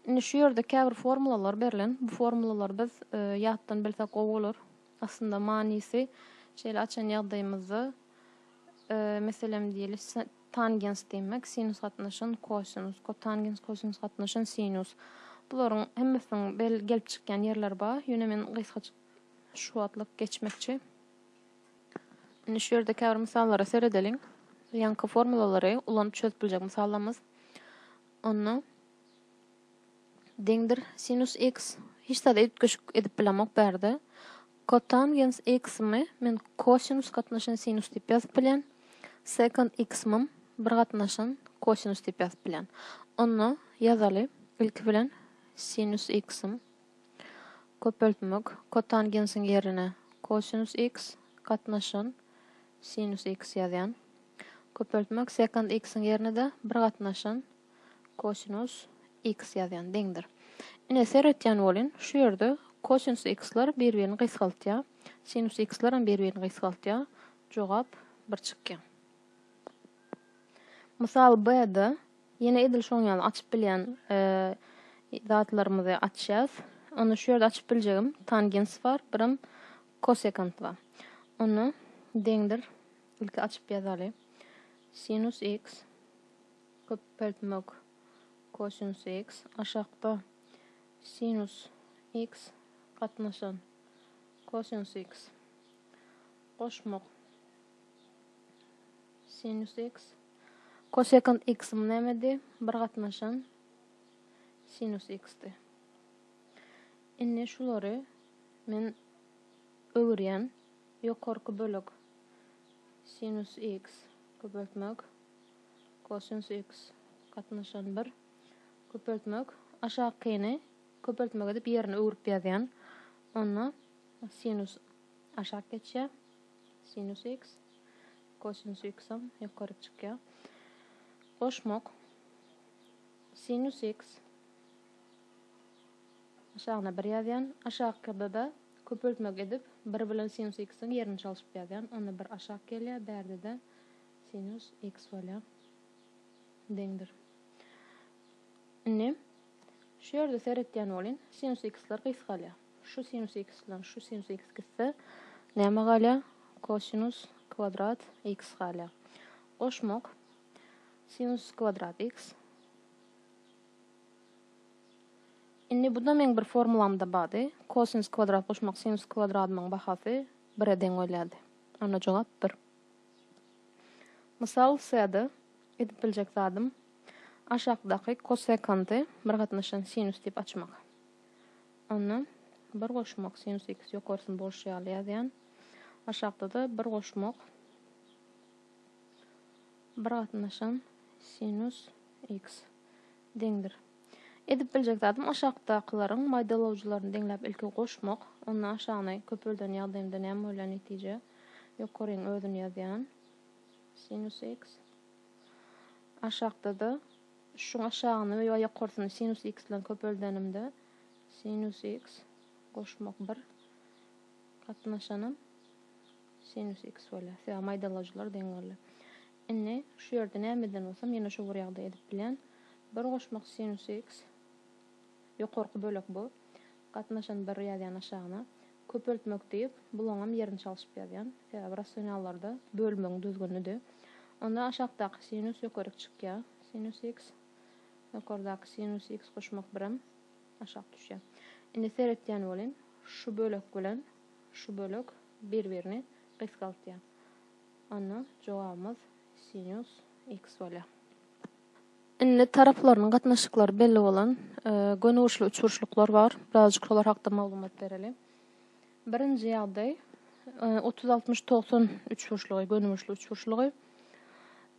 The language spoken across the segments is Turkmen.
Indi şu ýerde käbir formulalar berlen. Bu formulalary biz ýatdan bilsek gowy bolar. Aslynda manysy şeýle açan ýagdaýymyzda meselem diýeli tangens diýmek, sinus gatnaşan kosinus, kotangens, kosinus gatnaşan sinus. Bularyň hemmesiniň gelip çykýan ýerleri bar. Ýöne men gysgaçyk şu wagtlyk geçmekçi. Indi şu ýerde käbir mysallara seredeliň. Ýaňky formulalary ulanyp çözüp biljek mysallarymyz. Onda deňdir sinus x hiç zada üýtgeşik edip bilemok bärde. Kotangens x-mi men kosinus gatnaşan sinus diýip ýazyp bilýän. Sekant x-mi bir gatnaşan kosinus diýip ýazyp bilýän. Onda ýazaly ilki bilen sinus x-mi Köpeltmek, Kotangensiň ýerine kosinus x gatnaşan sinus x ýazýan. Köpeltmek, Sekant x-iň ýerine-de bir gatnaşan kosinus x ýazýan, deňdir. Ine, seretýän bolun, şu ýerde kosinus x-lar bir-birini gysgaltýar, sinus x-lar hem bir-birini gysgaltýar, jogap bir çykýar. Mysal B-de ýene edil şoň ýaly açyp bilýän zatlarymyzy açýas. Onda şu ýerde açyp biljegim tangens bar, birem kosekant bar. Onda deňdir ilki açyp ýazaly. Sinus x köpeltmek kosinus x aşakda sinus x gatnaşan kosinus x goşmak Sinus x. Kosekant x-im nämedi? Bir gatnaşan sinus x-di. Indi şulary men öwürýän. Ýokarky bölek sinus x köpeltmek kosinus x gatnaşan 1 köpeltmek aşakyny köpeltmek edip ýerini öwrüp ýazýan. Onda sinus aşak geçýär. Sinus x, kosinus x-am ýokaryk çykýar. Goşmak, sinus x, aşagyna bir ýazýan, aşakda-da köpeltmek edip, bir bilen sinus x-iň ýerini çalşyp ýazýan, onda bir aşak gelýär, bärde-de sinus x bolýar, deňdir. Indi. Şu ýerde seretýän bolyn, sinus x-ler gysgalýar. Şu sinus x bilen şu sinus x gitse, näme galýar? Kosinus kwadrat x galýar. Goşmak, sinus kwadrat x. Indi bu-da meň bir formulamda bardy. Kosinus kwadrat goşmak sinus kwadradymyň bahasy bire deň bolýardy. Onda jogap bir. Mysal syýada edip biljek zadym aşakdaky kosekanty bir gatnaşan sinus diýip açmak. Onda bir goşmak sinus x ýokarsyny bolşy ýaly ýazýan. Aşakda-da bir goşmak bir gatnaşan sinus x deňdir. Edip biljek zadym aşakdakylaryň maýdalawjylaryny deňläp ilki goşmak, onda aşagyny köpelden ýagdaýymda näme bolýar netije? Ýokaryň özüni ýazýan. Sinus x. Aşakda-da şuň aşagyny we ýokarsyny sinus x bilen köpeldenimde sinus x goşmak bir gatnaşanam sinus x bolýar. Sebäbi maýdalawjylar deň bolýar. Indi, şu ýerde näme edýän bolsam, ýene şo bir ýagdaý edip bilýän. Bir goşmak sinus x, ýokarky bölek bu, gatnaşan bir ýazýan aşagyna, köpeltmek diýip, bulaňam ýerini çalşyp ýazýan. Sebäbi rasionallarda bölmegiň düzgünidi. Onda aşakdaky sinus ýokaryk çykýar, sinus x, ýokardaky sinus x goşmak birem aşak düşýär. Indi seretýän boluň, şu bölek bilen şu bölek bir-birini gysgaltýar. Onda jogabymyz sinus x bolýar. Indi taraplarynyň gatnaşyklary belli bolan gönügurçly üçburçluklar bar. Birazjyk şolar hakda maglumat bereli. Birinji ýagdaý 30-60-90 üçburçlugy, gönügurçly üçburçlugy.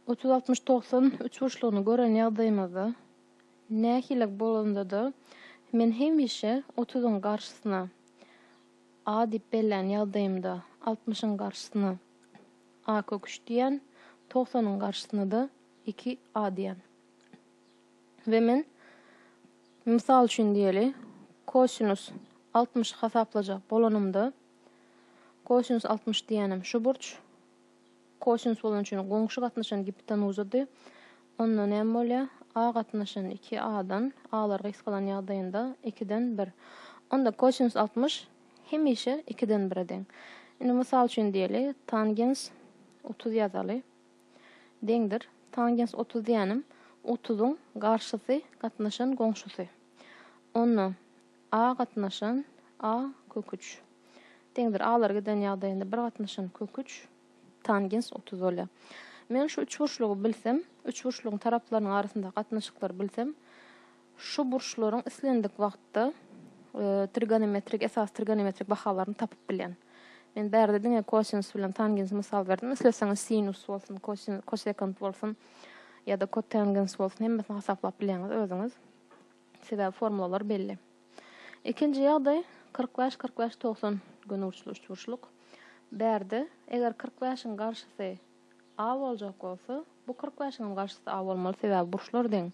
30-60-90 üçburçlugyny gören ýagdaýymyzda nähili bolanda-da men hemişe 30-yň garşysyna A diýip bellän ýagdaýymda altmyşyň garşysyna A kök üç diýýän, togsanyň garşysyna-da iki A diýýän. We men, mysal üçin diýeli, kosinus altmyşy hasaplajak bolanymda, kosinus altmyş diýýänem şu burç, Kosinus bolan üçin goňşy gatnaşan gipotenuzadyr. Onda näme bolýar? A gatnaşan iki A-dan, A-lar gysgalan ýagdaýynda ikiden bir. Onda kosinus altmyş hemişe ikiden bire deň. Indi mysal üçin diýeli, tangens otuz ýazaly. Deňdir. Tangens otuz diýýänim, otuzyň garşysy gatnaşan goňşusy. Onda. A gatnaşan, a, kök üç. Deňdir, alar giden ýagdaýynda bir gatnaşan kök üç, tangens otuz bolýar. Men şu üçburçlugy bilsem, üçburçlugyň taraplarynyň arasyndaky gatnaşyklary bilsem, şu burçlaryň islendik wagtda trigonometrik, esasy trigonometrik bahalaryny tapyp bilýän. Men bärde diňe kosinus bilen tangens mysal berdim. Isleseňiz sinus bolsun, kosekant bolsun ýa-da kotangens bolsun, hemmesini hasaplap bilýäňiz özüňiz. Sebäbi formulalar belli. Ikinji ýagdaý, kyrk bäş, kyrk bäş, togsan gönüburçly üçburçluk. Bärde, eger kyrk bäşiň garşysy A boljak bolsa, bu kyrk bäşiňem garşysy A bolmaly, sebäbi burçlar deň.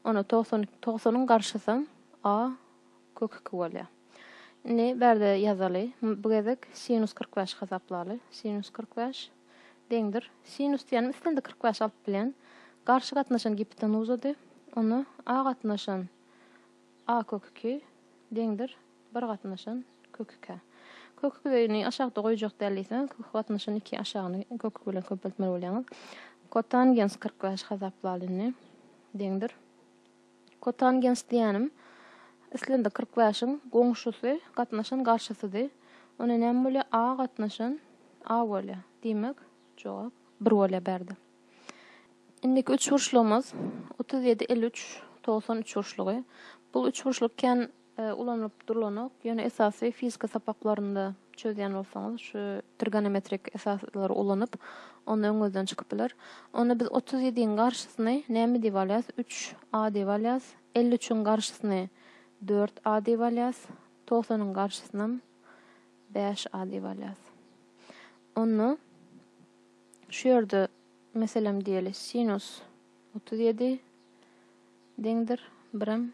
Onda togsan iki, togsanyň garşysam A kök iki bolýar. Indi bärde ýazaly. Bu gezek sinus kyrk bäşi hasaplaly. Sinus kyrk bäş. deňdir. Sinus diýýänim islendik kyrk bäş alp bilen garşy gatnaşan gipotenuzady. Onda a gatnaşan a kök iki deňdir bir gatnaşan kök ikä. Kök ikini aşakda goýjak däl diýseňiz, kök gatnaşan iki aşagyny kök iki bilen köpeltmeli bolýaňyz. Kotangens kyrk bäş hasaplaly indi. Deňdir. Kotangens diýýänim, islendik kyrk bäşiň goňşusy, gatnaşan garşysydy. Onda näme bolýar? A gatnaşan A bolýar. Diýmek, jogap bir bolýar bärde. Indiki üçburçlygymyz otuz ýedi, elli üç, togsan üçburçlygy. Bu üçburçluk kän ulanylyp durlanok, ýöne esasy fizika sapaklarynda çözýän bolsaňyz, şu trigonometrik esaslary ulanyp, onda öňüňizden çykyp biler. Onda biz otuz ýediň garşysyny näme diýip alýas? Üç a diýip alýas. Elli üçiň garşysyny dört a diýip alýas. Togsanyň garşysynam bäş a diýip alýas. Onda şu ýerde meselem diýeli, sinus otuz ýedi deňdir birem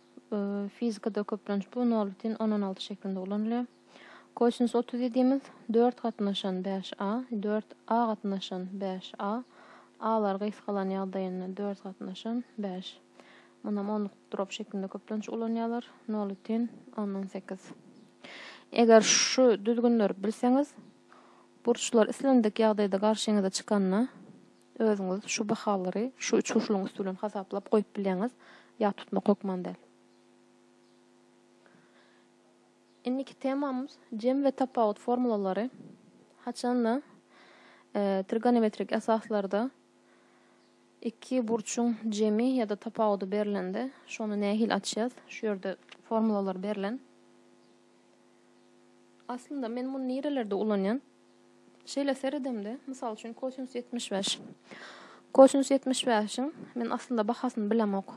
Fizikada köplenç bu nolbitin on on alty şeklinde ulanylýar. Kosinus otuz ýedimiz dört gatnaşan bäş a, dört a gatnaşan bäş a, alar gysgalan ýagdaýynda dört gatnaşan bäş. Munam onluk drop şeklinde köplenç ulanýarlar. Nolbitin on on sekiz. Eger şu düzgünleri bilseňiz, burçlar islendik ýagdaýda garşyňyza çykanda, Özüňiz şu bahalary şu üç urşulyň üsti bilen hasaplap goýup bilýäňiz, ýat tutmak hökman däl. Indiki temamyz jem we tapawut formulalary. Haçanda trigonometrik esaslarda iki burçuň jemi ýa-da tapawudy berlende, şony nähili açýas? Şu ýerde formulalar berlen. Aslynda men muny nirelerde ulanýan? Şeýle seredemde, mysal üçin kosinus ýetmiş bäş. Kosinus ýetmiş bäşiň men aslynda bahasyny bilemok.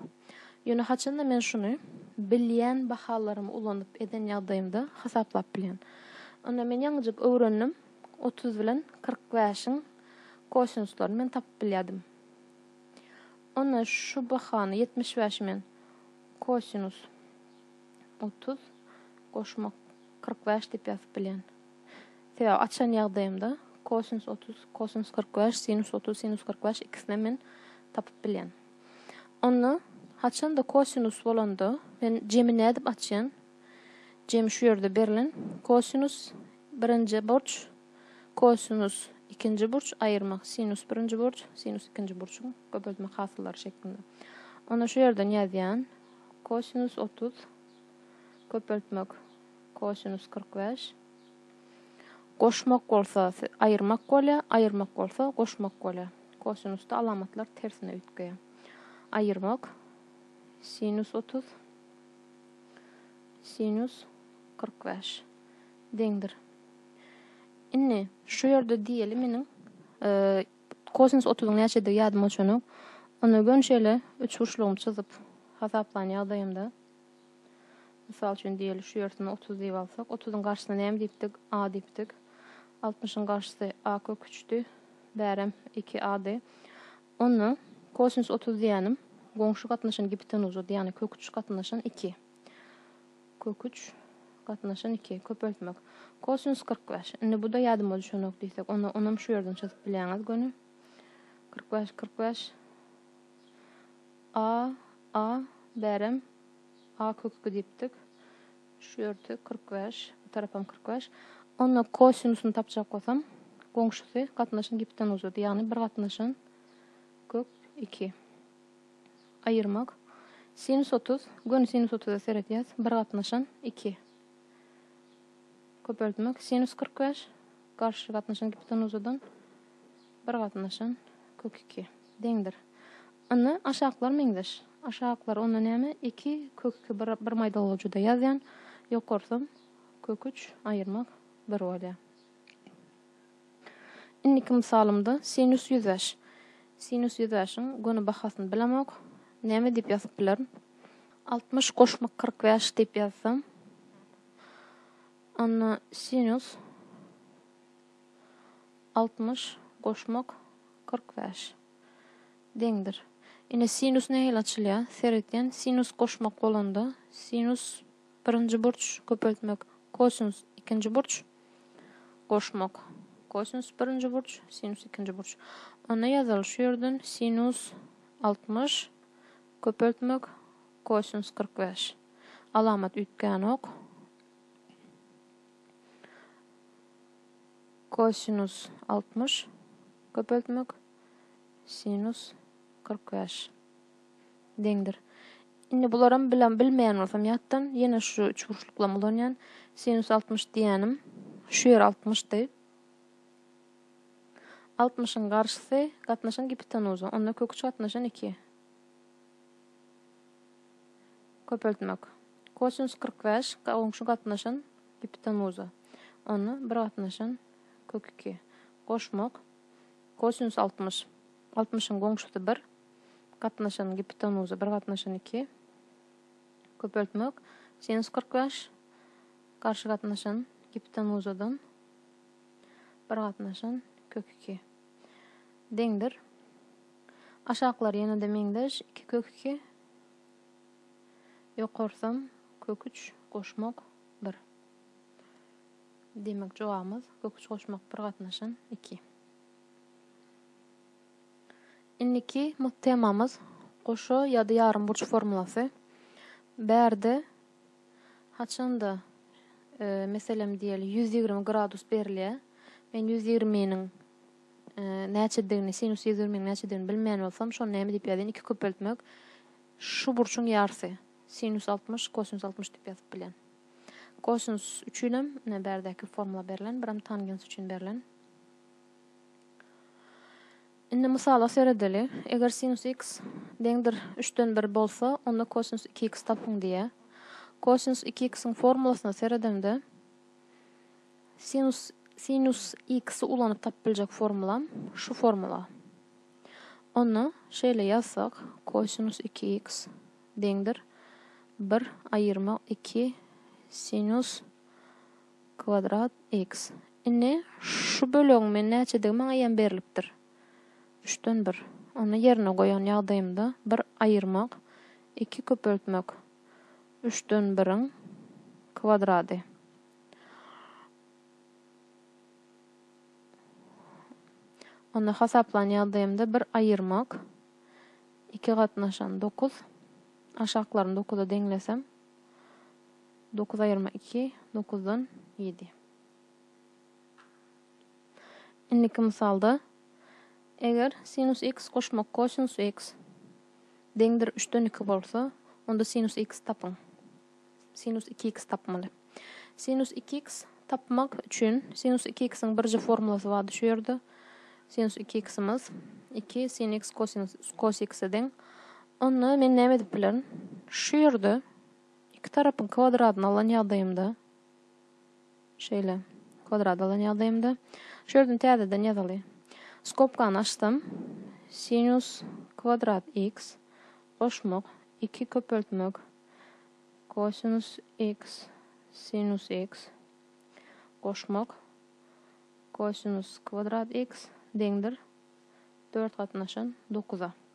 Ýöne haçanda men şuny bilýän bahalarymy ulanyp eden ýagdaýymda hasaplap bilýän. Onda men ýaňyjyk öwrendim, otuz bilen kyrk bäşiň kosinuslaryny men tapyp bilýärdim. Onda şu bahany ýetmiş bäşi men kosinus Otuz goşmak kyrk bäş diýip ýazyp bilýän. Sebäbi açan ýagdaýymda kosinus otuz, kosinus kyrk bäş, sinus otuz, sinus kyrk bäş ikisinem men tapyp bilýän. Onda haçanda kosinus bolanda men jemi nädip açýan? Jemi şu ýerde berlen. Kosinus birinji burç, kosinus ikinji burç aýyrmak, sinus birinji burç, sinus ikinji burçuň köpeltmek hasyllary şeklinde. Onda şu ýerden ýazýan. Kosinus otuz Köpeltmek Kosinus kyrk bäş Goşmak bolsa aýyrmak bolýar, aýyrmak bolsa goşmak bolýar. Kosinusda alamatlar tersine üýtgeýär. Aýyrmak Sinus otuz Sinus kyrk bäş Deňdir. Indi şu ýerde diýeli meniň Kosinus otuzyň näçedigi ýadyma düşenok. Onda göni şeýle üçburçlugymy çyzyp hasaplaýan ýagdaýymda, mysal üçin diýeli şu ýersini otuz diýip alsak, otuzyň garşysyna näme diýipdik? A diýipdik. Altmyşyň garşysy a kök üçdi. Bärem iki ady. Onda kosinus otuz diýýänim goňşy gatnaşan gipotenuza, ýagny kök üç gatnaşan iki. Köküç, gatnaşan iki, köpeltmek. Kosinus kyrk bäş. Indi bu-da ýadyma düşenok diýsek, onda onam şu ýerden çyzyp bilýäňiz göni. Kyrk bäş, kyrk bäş. A, A, bärem A kök iki diýipdik. Şu ýerde kyrk bäş, bu tarapam kyrk bäş. Onda kosinusyny tapjak bolsam, goňşusy gatnaşan gipten uzady. Ýagny bir gatnaşan kök iki. Aýyrmak. Sinus otuz, göni sinus otuza seredýäs, bir gatnaşan, iki. Köpeltmek. Sinus kyrk bäş, garşy gatnaşan gipotenuzadan, bir gatnaşan, kök iki. Deňdir. Indi aşaklar meňzeş. Aşaklar onda näme? Iki, kök iki, bir, bir maýdalygy juda ýazýan, ýokarsam, kök üç, aýyrmak, bir bolýar. Indiki mysalymda sinus ýüz bäş. Sinus ýüz bäşiň göni bahasyny bilemok. Näme diýip ýazyp bilerin? Altmyş goşmak kyrk bäş diýip ýazsam. Onda sinus altmyş goşmak kyrk bäş deňdir. Ine sinus nähili açylýar? Seretýän sinus goşmak bolanda sinus birinji burç köpeltmek kosinus ikinji burç goşmak. Kosinus birinji burç, sinus ikinji burç. Onda ýazaly şu ýerden sinus altmyş köpeltmek kosinus kyrk bäş. Alamat üýtgänok. Kosinus altmyş köpeltmek sinus kyrk bäş. deňdir. Indi bularam bilen bilmeýän bolsam ýatdan, ýene şu üçburçluklam ulanýan. Sinus altmyş diýýänim şu ýer altmyşdy. Altmyşyň garşysy gatnaşan gipitenuza, onda kök üç gatnaşan iki. Köpeltmek. Kosinus kyrk bäş goňşy gatnaşan gipitenuza, onda bir gatnaşan kök iki. Goşmak. Kosinus altmyş. Altmyşyň goňşusy bir, gatnaşan gipotenoza bir gatnaşan iki, köpeltmek, sinus kyrk bäş, garşy gatnaşan gipotenozadan bir gatnaşan kök iki deňdir. Aşaklar ýene-de meňzeş, iki kök iki, ýokarsam kök üç goşmak bir. Demek, jogabymyz kök üç goşmak bir gatnaşan iki. Indiki mugt temamyz goşa ýa-da ýarym burç formulasy. Bärde haçanda e, meselem diýeli 120 gradus berilýär. Men 120 niň e, näçedigini, sinus 120 niň näçedigini bilmeýän bolsam, şony näme diýip ýazýan? 2 köpeltmek şu burçuň ýarsy. Sinus 60, kosinus 60 diýip ýazyp bilýän. Kosinus üçin hem ne bärdäki formula berlen, bir hem tangens üçin berlen. Indi mysala seredeli. Eger sinus x deňdir üçden bir bolsa, onda kosinus iki x tapyň diýýär. Kosinus iki x-iň formulasyna seredemde, sinus sinus x-i ulanyp tapyp biljek formulam şu formula. Onda şeýle ýazsak, kosinus iki x deňdir bir aýyrmak iki sinus Kwadrat X. Indi, şu bölegiň men näçedigi maňa ýa berlipdir. Üçden bir. Ony ýerine goýan ýagdaýymda, bir aýyrmak, iki köpeltmek. Üçden biriň kwadrady. Ony hasaplan ýagdaýymda, bir aýyrmak, iki gatnaşan dokuz. Aşaklaryny dokuza deňlesem. Dokuz aýyrma iki, dokuzdan ýedi. Indiki mysalda, eger sinus x goşmak kosinus x deňdir üçden iki bolsa, onda sinus x tapyň. Sinus iki x tapmaly. Sinus iki x tapmak üçin sinus iki x-iň birje formulasy bardy şu ýerde. Sinus iki x-imiz iki sin x kosinus kos x-e deň. Onda men näme edip bilerin? Şu ýerde iki tarapyň kwadradyny alan ýagdaýymda, şeýle, kwadrady alan ýagdaýymda, şu ýerden täzeden ýazaly. Skobkany açsam, sinus kwadrat x goşmak iki köpeltmek kosinus x sinus x goşmak kosinus kwadrat x deňdir dört gatnaşan dokuza.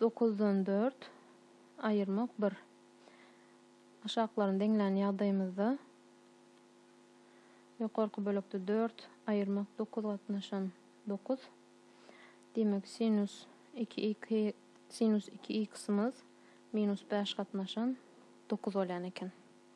Dokuzdan dört aýyrmak bir. Aşaklaryny deňlän ýagdaýymyzda ýokarky bölekde dört aýyrmak dokuz gatnaşan dokuz. Diýmek, sinus iki iki sinus iki x-ymyz minus bäş gatnaşan dokuz bolýan eken.